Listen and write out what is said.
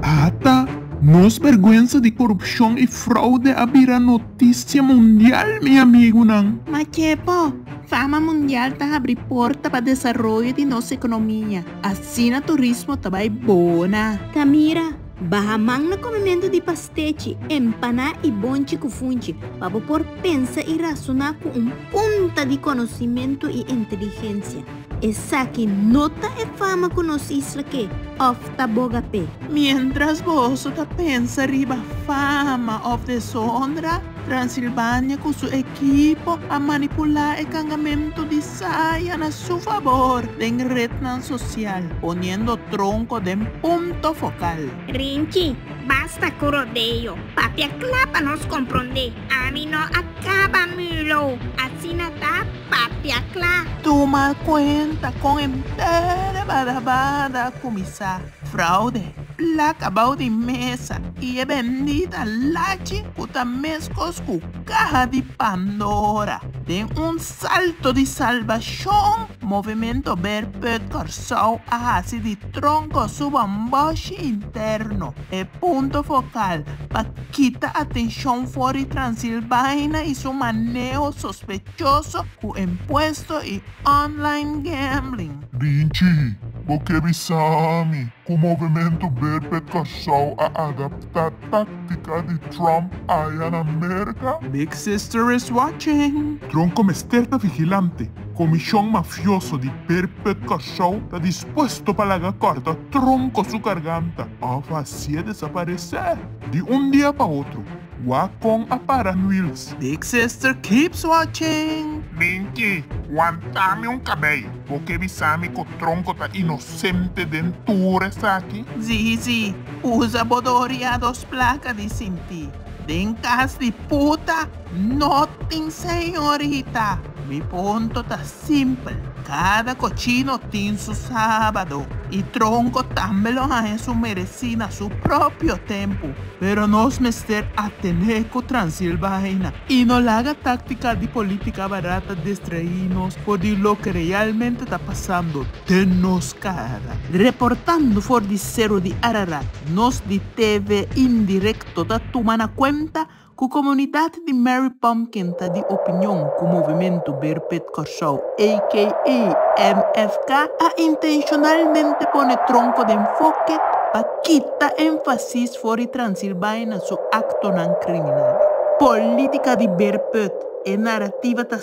Ata nos bergwensa di korupshon i fraude a bira notisia mundial, mi amigunan. Ma ke bo? Fama mundial ta habri porta pa desaroyo di nos ekonomia. Asina turismo ta bai bona. Ta mira, Baha man na komementu di pastechi, empaná i bonchi ku funchi pa bo por pensa i rasuná ku un punta di konosimentu i inteligensia. Esaki no ta e fama ku nos isla ke òf ta boga p'e. Miéntras boso ta pensa riba fama òf deshonra, Transilvania ku su ekipo a manipulá e kangamentu di Sa haya na su fabor den rednan sosial poniendo tronko den punto fokal. Rinchi, basta ku rodeo. Papia kla pa nos komprondé. Ami no a kaba mulo. Asina ta, papia kla. Tuma kuenta kon e mpere bada bada a kuminsá. Fraude, plaka bou di mesa i e bendita lachi ku ta meskos ku kaha di Pandora den un Salto di Salbashon, Movimento Bear Put Kòrsou a hasi di tronko suba un bòshi interno, e punto fokal pa kita atenshon for di Transilbaina i su maneho sospechoso ku impuesto i online gambling. Rinchi, bo ke bisa mi? Cu Movimento Berbe Curaçao a adapta tactica di Trump aya na Merca? Big sister is watching! Tronco mester ta vigilante. Comision mafioso di Berbe Curaçao ta dispuesto pa laga corta tronco su garganta of hacié desaparece di un dia pa otro. Wha con a para Luils? Big sister keeps watching. Minki, wantami un cabey. Bo ke bisami cu Tronco ta inocente den tur esaki? Zizi, usa bo doria dos placa di sinti. Den cas di puta, no tin señorita. Mi punto ta Simpel, Cada cochino tin su sabado y tronco tambe lo haya su mereci na su propio tempo, pero nos mester a tene cu transil baina y no laga tactica di politica barata distraí nos for di loke realmente ta pasando den nos cara. Reportando for di Cerro di Ararat, nos di TV Indirecto ta tuma na cuenta Ku komunidat di Mary Pumpkin ta di opinion ku Movimentu Beerput Kòrsou, aka MFK, a intenshonalmente pone tronko den foke pa kita énfasis for di Transilbaina su aktonan kriminal. Polítika di Beerput, E narativa ta